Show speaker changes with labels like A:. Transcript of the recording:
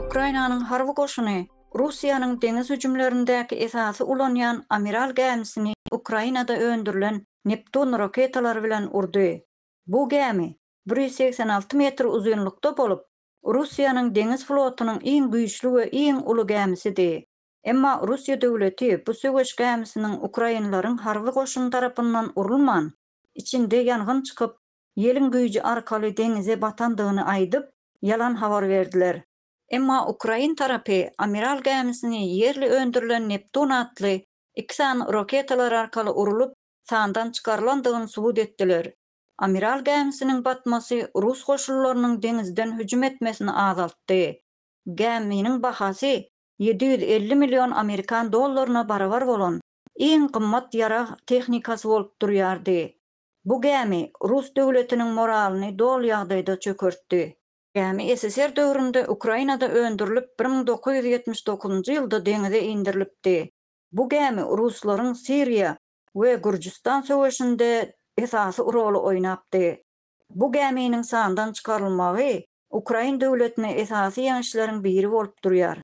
A: Ukrainanyň harby goşuny Russiýanyň deňiz hüjümlerindäki esasy ulanýan Amiral gämisini Ukrainada öndürilen Neptun raketalary bilen urdy. Bu gämi bir ýüz segsen alty metr uzynlykda bolup, Russiýanyň deňiz flotunyň iň güýçli we iň uly gämisidi. Emma Russiýa döwleti bu söweş gämisiniň ukrainleriň harby goşuny tarapyndan urulman, içinde ýangyn çykyp, ýeliň güýji arkaly deňize batandygyny aýdyp, ýalan habar berdiler. Emma ukrain tarapy Amiral gämisini ýerli öndürilen Neptun atly iki sany roketalar arkaly urulyp, sandan çykarylandygyny subut etdiler. Amiral gämisiniň batmasy rus goşunlarynyň deňizden hüjüm etmesini azaltdy. Gäminiň bahasy ýedi ýüz elli million amerikan dollaryna barabar bolan iň gymmat ýarag tehnikasy bolup durýardy. Bu gämi rus döwletiniň moralyny doly ýagdaýda çökertdi. Gämi SSR döwründe Ukrainada öndürilip bir müň dokuz ýüz ýetmiş dokuzynjy ýylda deňize indirilipdi. Bu gämi ruslaryň Siriýa we Gürjüstan söweşinde esasy roly oýnapdy. Bu gäminiň sandan çykarylmagy Ukrain döwletine esasy ýeňişleriň biri bolup durýar.